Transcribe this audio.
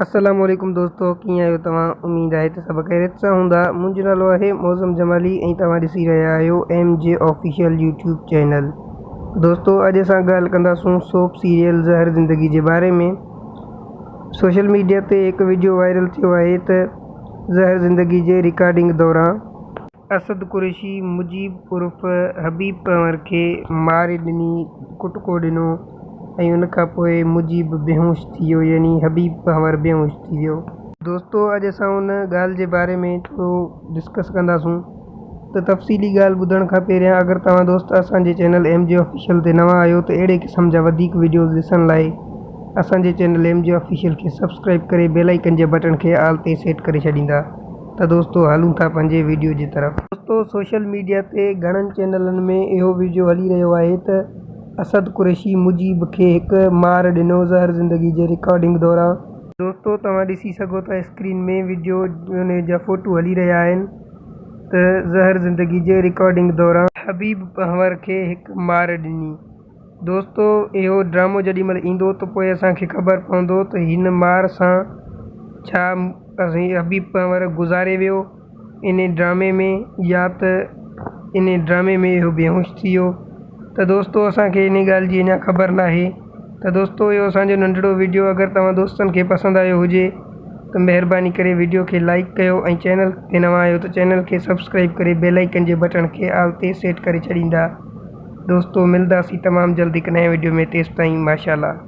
السلام عليڪم دوستو ڪيئن آهيو توهان اميد آهي ته سڀ خيريت سان هوندا منهنجو نالو آهي معظم جمالي ۽ توهان ڏسي رهيا آهيو M G official YouTube channel دوستو اڄ اسان ڳالهه ڪنداسون سوپ سيريل زهر زندگي جي باري ۾ سوشل ميڊيا تي هڪ وڊيو وائرل ٿيو آهي ته زهر زندگي جي رڪارڊنگ دوران اسد قريشي مجيب عرف حبيب پنهور کي ماري ڏني ڪٽڪو ڏنو ۽ ان کان پوء مجيب بيهوش ٿي ويو يعني حبيب پنهور بيهوش ٿي ويو. دوستو اڄ اسان ان ڳالهه جي باري ۾ ٿورو ڊسڪس ڪنداسون ته تفصيلي ڳالهه ٻڌڻ کان پهريان اگر توهان دوست اسان جي چينل ايم جي آفيشل تي نوان آهيو ته اهڙي قسم جا وڌيڪ وڊيوز ڏسڻ لاء اسان جي چينل ايم جي آفيشل کي سبسڪرائيب ڪري بيل آئيڪن جي بٽڻ کي آل تي سيٽ ڪري ڇڏيندا. ته دوستو هلون ٿا پنهنجي ويڊيو جي طرف. دوستو سوشل ميڊيا تي گهڻن چينلن ۾ اهو ويڊيو هلي رهيو آهي ته اسد قريشي مجيب کي هڪ مار ڏنو زهر زندگي جي رڪارڊنگ دوران. دوستو توهان ڏسي سگهو ٿا اسڪرين ۾ ويڊيو ان جا فوٽو هلي رهيا آهن ته زهر زندگي جي رڪارڊنگ دوران. حبيب پنهور کي هڪ مار ڏني. دوستو اهو ڊرامو جڏهن مهل ايندو ته پوء اسان کي خبر پوندو ته هن مار سان ڇا سائين حبيب پنور گذاري ويو ان ڊرامي ۾ يا ته ان ڊرامي ۾ اهو بيهوش ٿي ويو ته دوستو اسان کي ان ڳالهه جي اڃا خبر نه آهي ته دوستو اهو اسانجو ننڍڙو ويڊيو اگر توهان دوستن کي پسند آيو هجي ته مهرباني ڪري ويڊيو کي لائڪ ڪيو ۽ چينل تي نوان آهيو ته چينل کي سبسڪرائيب ڪري بيل آئيڪن جي بٽڻ کي آل تي سيٽ ڪري ڇڏيندا دوستو ملداسين تمام جلد هڪ نئين وڊيو ۾ تيستائين ماشاء الله.